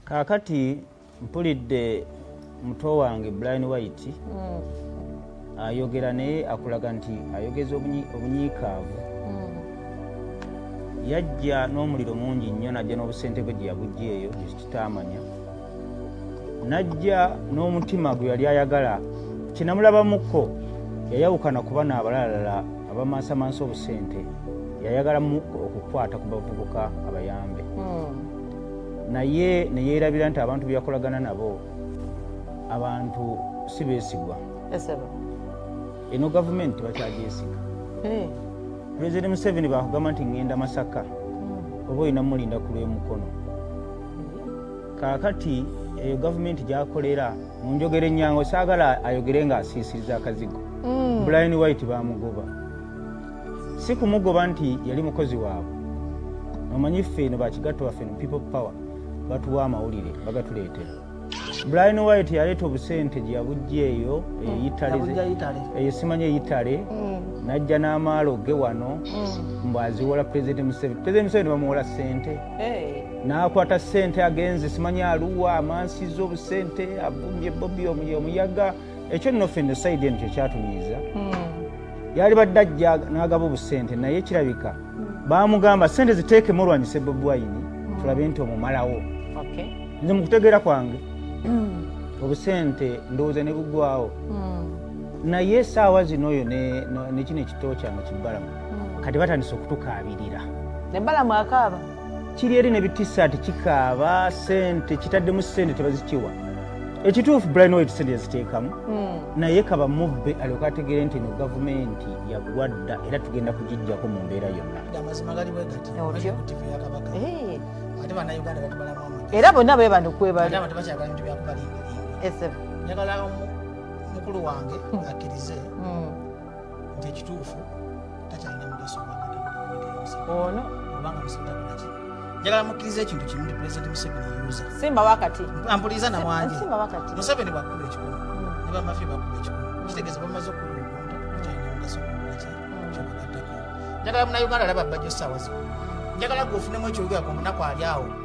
kaakati mpulidde muto wange blind white mm. ayogera naye akulaga nti ayogeza obunyiikaavu mm. yajja n'omuliro mungi nnyo najja n'obusente bwe gye yabujja eyo ekitaamanya najja n'omutima gwe yali ayagala kinamulabamukko yayawukana kuba naabalalala abamaasamasa obusente yayagala mu okukwata ku bavubuka abayambe mm. naye ne yeerabira nti abantu be yakolagana nabo abantu si beesigwa eno gavumenti bakyagyesiga eh. pulezidenti museveni baakugamba nti ŋŋenda masaka hmm. oba olina mulinda ku lw'emukono kaakati eyo gavumenti gyakolera mu njogera ennyango saagala ayogere ng'asiisiriza akazigo hmm. bulayini waiti baamugoba si kumugoba nti yali mukozi waabwe omanyi ffe eno bakigatto baffe no people power batuwa amawulire bagatuleetera brian white yaleeta obusente gye yabujja eyo eyo simanya eyitale mm. najja n'amaalo ge wano mm. mbu aziwola president museveni president museveni bamuwola sente n'akwata sente agenze simanya aluwa amansiza obusente avumbye bobi omuyaga mm. ekyo nno ffe nosayidi eno kyekyatunyiiza hmm. yali badde ajja n'agaba obusente naye kirabika hmm. baamugamba sente ziteekemu olwanyise bobi wayini hmm. tulabe nti omumalawo nze mu kutegeera kwange obusente ndowooza ne bugwawo naye esaawa zino oyo nekino ekitoo kyange kibbalamu kati batandise okutukaabirira ebbalamu akaaba kiri eri ne bitisaati kikaaba sente kitaddemu sente tebazikiwa ekituufu brian white sente yaziteekamu hmm. naye kaba mubbe alyoka ategeere nti eno gavumenti yagwa dda era tugenda kugijjako mu mbeera yonna era bonna bwe bantu kwebalmukulu wange hmm. akkirize hmm. nti ekituufu takyalina mugaso ono kubanga musibutakolaki njagala mukkiriza ekintu kimu nti pulezidenti museveni yuza simba wakati ampuliza na wangi museveni bwakuba ekikulu hmm. ne bamafi bakuba ekikulu hmm. kitegeeza bamaze okuba omuntu takyalina mugaso gwaki hmm. kyobagaddako njagala munauganda alaba bajjo saawa zino njagala gwe ofunemu ekyogerako omunaku ali awo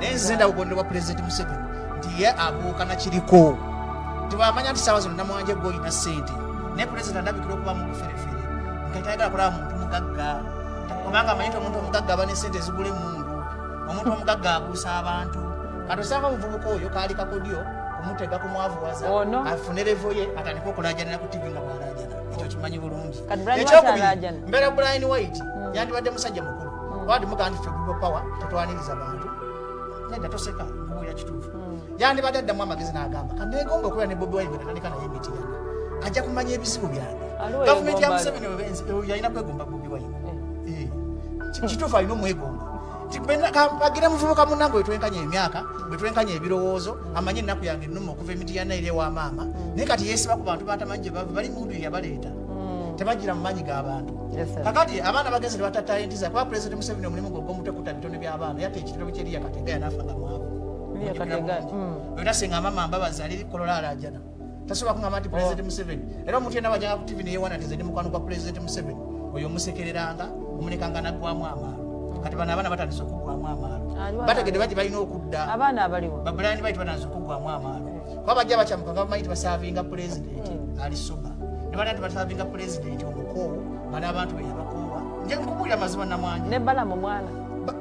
naye nze ndaba obubonero bwa pulezidenti museveni nti ye abuuka nakiriko tibamanya nti saawa zino namwanje gwe olina ssente naye pulezidenti andabikira okuba mu buferefere nga tayagala kulaba muntu mugagga kubanga amanyi nti omuntu omugagga aba n'essente ezigula emundu omuntu omugagga abuusa abantu kati osanga omuvubuka oyo kaali kakodyo kumutega kumwavuwaza afune revo ye atandika okulajanira ku tivi nga bwalajana ekyo kimanyi bulungi ekyokubiri mbeera brian white hmm. yandibadde musajja mukulu wadi mugandi ffe gugo power tetwaniriza bantu nedda toseka mbuulira kituufu hmm. yandibadde addamu amagezi n'agamba kanegomba okubeera ne bobi wine bwenatandika naye emitirana ajja kumanya ebizibu byange gavumenti ya museveni yalina kwegomba bobi wine eh. Eh. kituufu alina omwegomba agire muvubuka munange wetwenkanya emyaka wetwenkanya ebirowoozo amanye ennaku yange ennuma okuva emitiyana eri ewa maama hmm. naye kati yeesiba ku bantu batamanyi gye bava bali mundu yeyabaleeta mm. tebagira mu manyi g'abantu kakati abaana bagenzi tebatatayo ntiza kuba pulezidenti museveni omulimu gwe ogw'omutwe kuta bitone by'abaana yata ekitero kyeriya kategaya nafa nga mwavu era senga mama mbabazi ali kolola alajana tasobola kungamba nti pulezidenti oh. museveni era omuntu yena bajanga ku tivi neyewana nti zedi mukwano gwa pulezidenti museveni oyo omusekereranga omulekanga naggwamu amaalo kati bano abaana batandise okuggwamu amaalo bategede bati balina okudda babulayani baitu batandise okuggwamu amaalo kuba bajja bakyamuka nga bamanyi tibasavinga pulezidenti hmm. ali soba ne bana tibasavinga pulezidenti omukoowu bali abantu be yabakoowa nje nkubuulira mazima namwanya ne balamu mwana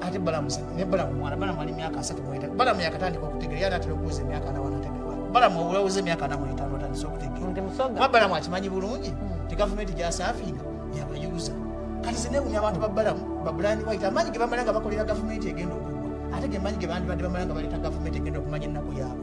ate balamu ne balamu mwana balamu ali myaka asatu mweta balamu yakatandika okutegeera yali atera okuwuza emyaka anawo anategeera balamu obulawuza emyaka anamu etaano atandise okutegeera kuba balamu akimanyi bulungi hmm. ti gavumenti gyasafinga yabayuza kati zinewunya abantu babalamu babulani waite amaanyi ge bamala nga bakolera gavumenti egenda okugwa ate ge maanyi ge bandibadde bamala nga baleeta gavumenti egenda okumanya ennaku yaabwe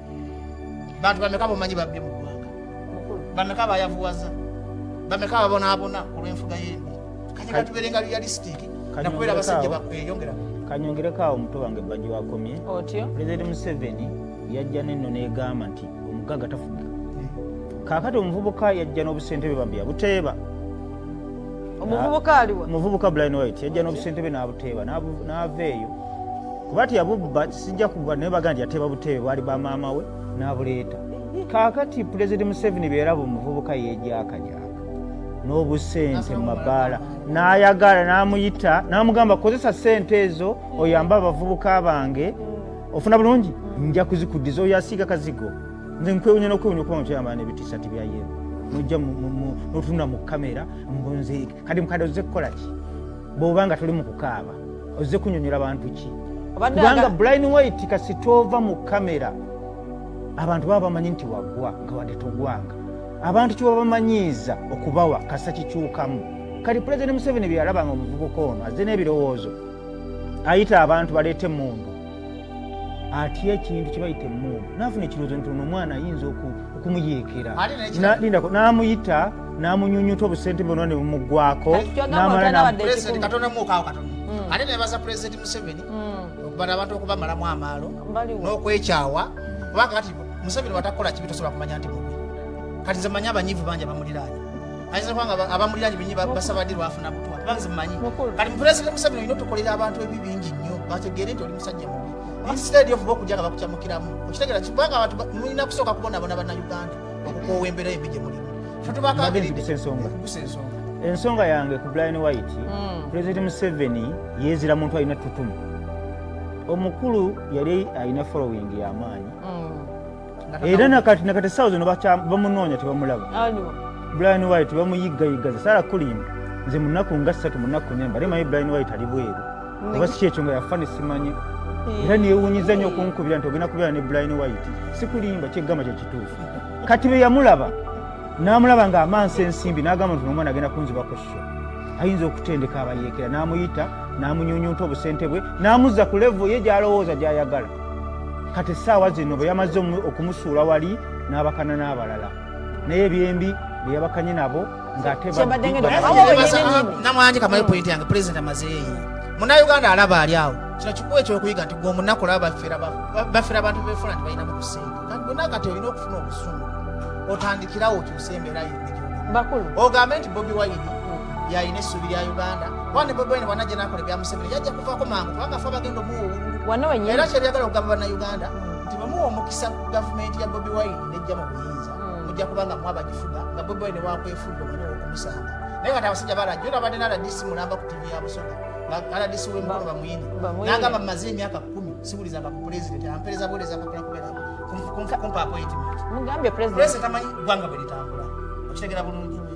bantu bameka bomanyi babbi mu ggwanga bameka bayavuwaza bameka babonaabona olw'enfuga y'embi kati katubere nga realistic nakubeera abasajja bakweyongera kanyongereko awo omuto wange bajja wakomye otyo pulezidenti museveni yajja nenno negamba nti omugagga tafuga eh. kaakati omuvubuka yajja n'obusente bwe bambi yabuteeba omuvubuka aliwa omuvubuka blind white yajja n'obusente bwe n'abuteeba n'ava eyo kuba ti yabubba sijja kuba naye baga nti yateeba buteebe bwali ba maama we n'abuleeta kaakati pulezidenti museveni beeraba omuvubuka yeegyakajaka n'obusente mu mabaala n'ayagala n'amuyita n'amugamba kozesa sente ezo oyambe abavubuka bange ofuna bulungi nja kuzikuddiza oyo asiiga kazigo nze nkwewunya nokwewunya okuba mukyama nebitisati bya yeru nojja notunula mu kamera mbunze kati mukade ozze kukolaki bwoba nga tuli mu kukaaba ozze kunyonyola bantu ki kubanga blin white kasitova mu kamera abantu baba bamanyi nti wagwa nga wadde togwanga abantu kyebabamanyiiza okubawa kasa kikyukamu kati pulezidenti museveni byeyalaba nga omuvubuka ono azze n'ebirowoozo ayita abantu baleete mundu atya ekintu kyebayita emuubu nafuna ekirowoozo nti ono omwana ayinza okumuyeekera lindako n'amuyita n'amunyunyuta obusente bona ne bumugwako namala ate nebaza pulezidenti museveni okubana abantu okubamalamu amaalo n'okwekyawa kubanga kati museveni watakola kibi tosobola kumanya nti mubi kati nze manyi abanyivu bangi abamuliraanya ayinza kuba nga abamuliranye binyi basaba ddi lwafuna butwa kuba nze mmanyi kati mupulezidenti museveni olina otukolera abantu ebi bingi nnyo bategeere nti oli musajja mubi instead of okujja nga bakucamukiramu okitegera kibanga abantu mulina kusooka kubonabona bannayuganda okukoowa embeera embi gye mulimu fetubakabirigusa ensonga ensonga yange ku brian white hmm. pulezidenti museveni yeezira muntu alina tutumu omukulu yali alina following yamaanyi mm. era nakati nakati esaawa zino bamunoonya tebamulaba brian white bamuyiggayiggaza sala kulimba nze munaku nga ssatu munaku nemba ate manyi brian white ali bweru oba si kyekyo nga yafa nesimanyi era newunyiza nyo okunkubira nti ogenda kubeera ne brian white sikulimba kyegamba kyekituufu kati bwe yamulaba n'amulaba ng'amansa ensimbi n'agamba nti nomwana agenda kunziba ku sho ayinza okutendeka abayeekera n'amuyita n'amunyunyunta obusente bwe n'amuzza ku levo ye gy'alowooza gy'ayagala kati essaawa zino bwe yamaze okumusuula wali n'abakana n'abalala naye ebyembi bwe yabakanye nabo ng'atenamwanje kamaye pointi yange pulezidenti amazeeyi munauganda alaba ali awo kino kikuwa ekyokuyiga nti gwe omunaku laba bafera abantu befuna nti balinamu kusinga kati gwe nakati olina okufuna obusungu otandikirawo okyusa embeera yene ogambe nti bobi wayini yalina essuubi lya uganda Wani bobi wine wanaje nakole bya museveni yajja kuvaako mangu kubanga fe abagenda omuwa obululu wano wenyewe era kyebyagala okugamba bannayuganda nti bwe muwa omukisa gavumenti ya bobi wine nejja mu buyinza hmm. mujja kuba nga mwabagifuga nga bobi wine wakwefulira omwana owokumusanga naye kati abasajja balajja ora abadde naradisi mulamba ku tivi ya busoga aradisi wemukolo bamuyini nagamba mumaze emyaka kumi siwulizanga ku pulezidenti ampereza buwuleza kakula kubeera kumpa appointment mugambye pulezidenti amanyi gwanga bwe litambula okitegera bulungi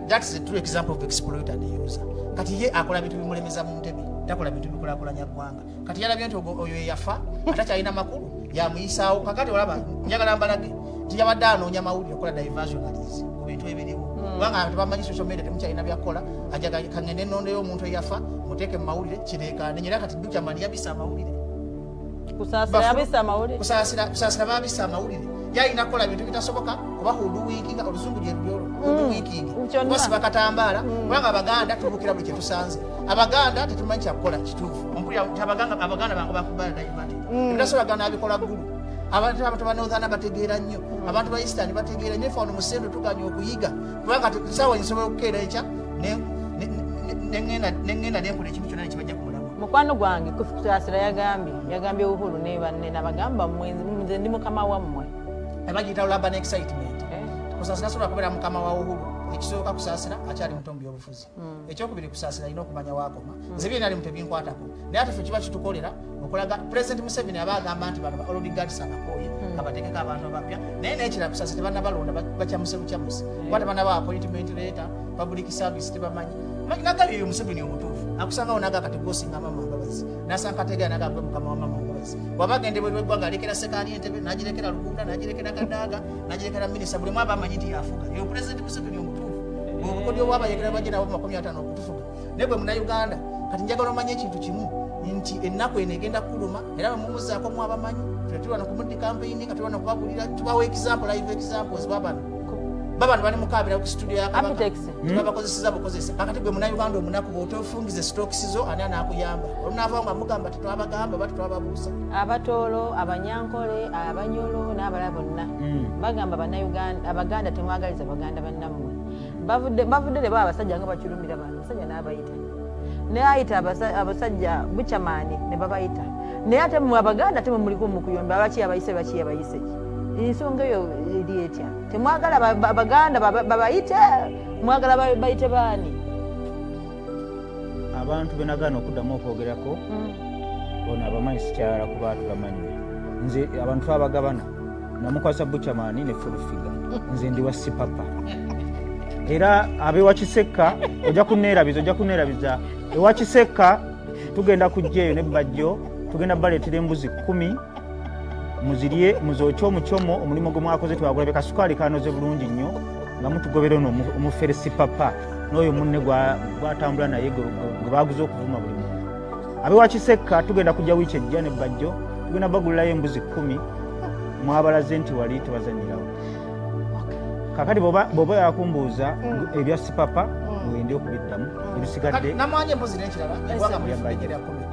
That's the true example of exploiter and user. Kati ye akola bintu bimulemeza mu ntebe, takola bintu bikulakulanya ggwanga. Kati yalabye nti oyo eyafa atakyalina makulu yamuyisaawo. Kakati olaba njagala mbalage nti yabadde anoonya mawulire okola diversionaries ku bintu ebiriwo hmm. kubanga abantu bamanyi social media temukyalina byakukola ajaga kangende nondeyo omuntu eyafa muteeke mu mawulire kireekaane nyera kati dukyamani yabisa amawulire kusaasira babisa amawulire yalina kukola bintu bitasoboka kuba huduwikinga oluzungu gyerubyolo mm. huduwikingi kuba siba katambaala mm. kubanga abaganda tubukira buli kyetusanze abaganda tetumanyi kyakukola kituufu abaganda bange bakubaladayimati mm. ebitasobola gana abikola ggulu abantu abantu banothana bategeera nnyo abantu ba eastern bategeera nnyo fano musendo tuganya okuyiga kubanga sawa nsobola okukeera ekya nengenda nenkola ekintu kyona nekibajja mukwano gwange kufikitasira yagambye yagambye uhulu ne banne nabagamba nze ndi mukama wammwe abagiyita laba ne excitement eh. kusasira sobola kubeera mukama wa uhulu ekisooka kusaasira akyali muto mu byobufuzi hmm. ekyokubiri kusaasira alina okumanya wakoma hmm. nze byena limu tebinkwatako naye ate fe kiba kitukolera okulaga president museveni aba agamba nti bano baolodigatisa abakooye hmm. abatekeko abantu abapya naye nekira kusaasira tebanabalonda bakyamusebucyamusi kuba tebanaba appointment leeta public service tebamanyi nagabi eyo museveni omutuufu akusangawo naga kati gwosinga mama mbabazi nasanga kategera naga gwe mukama wa mama mbabazi waba agenda ebweru eggwanga alekera sekaani entebe nagirekera lugunda nagirekera kadaaga nagirekera minisa buli mwaba amanyi nti yafuga eyo pulezidenti museveni omutuufu obukodyo bwabayekera bagenda bo makumi ataano okutufuga naye gwe munauganda kati njagala omanye ekintu kimu nti ennaku eno egenda kuluma era bamumuzaako mu abamanyi tetulwana kumuddi kampeyini nga tulwana kubagulira tubawa example live examples babano babano bali mukabira ku studio ya kabaka hmm? babakozeseza bukozesa kakati gwe munauganda omunaku bwotofungiza esitokisi zo ani anakuyamba olunaava nga mugamba tetwabagamba oba tetwababuusa abatoolo abanyankole abanyolo n'abala bonna hmm. bagamba abaganda temwagaliza baganda bannammwe bavudde ne baa abasajja nga bakirumira bantu abasajja n'abayita naye ayita abasajja bucamaani ne babayita naye ate mwe abaganda temwe muliko mukuyomba lwaki yabayise lwaki yabayise ensonga eyo eri etya temwagala baganda babayite mwagala bayite baani abantu benagaana okuddamu okwogerako hmm. ono abamanyi sikyala kuba tubamanyi nze abantu abagabana namukwasa bucamani ne fulufiga nze ndi wa sipapa era abewa kisekka ojja kunerabiza ojja kunerabiza ewa kisekka tugenda kujja eyo ne bajjo tugenda baleetera embuzi kumi muzirye muzokye omucomo omulimu gwe mwakoze twagulabye kasukaali kanoze bulungi nnyo nga mutugobera ono omuferesi papa n'oyo munne gwatambula naye gwe baguza okuvuma buli muntu abewakisekka tugenda kujja wiiki ejja ne bajjo tugenda bagulirayo embuzi kkumi mwabalaze nti wali tebazanyirawo kakati bwoba yakumbuuza mm. ebya sipapa mm. wende okubiddamu mm. ebisigadde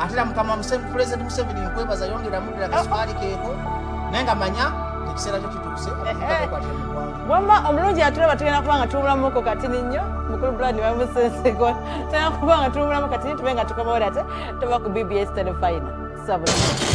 ate era mukama museveni pulezidenti museveni nkwebaza yongera mudira kaswali keeko naye nga manya ekiseera kyo kituuse wamma omulungi atulaba tugenda kuba nga tuwulamuko katini nnyo mukulu brad bamusenseko tugenda kuba nga tuwulamu katini tube nga tukomawo ate tuba ku bbs telefina sabula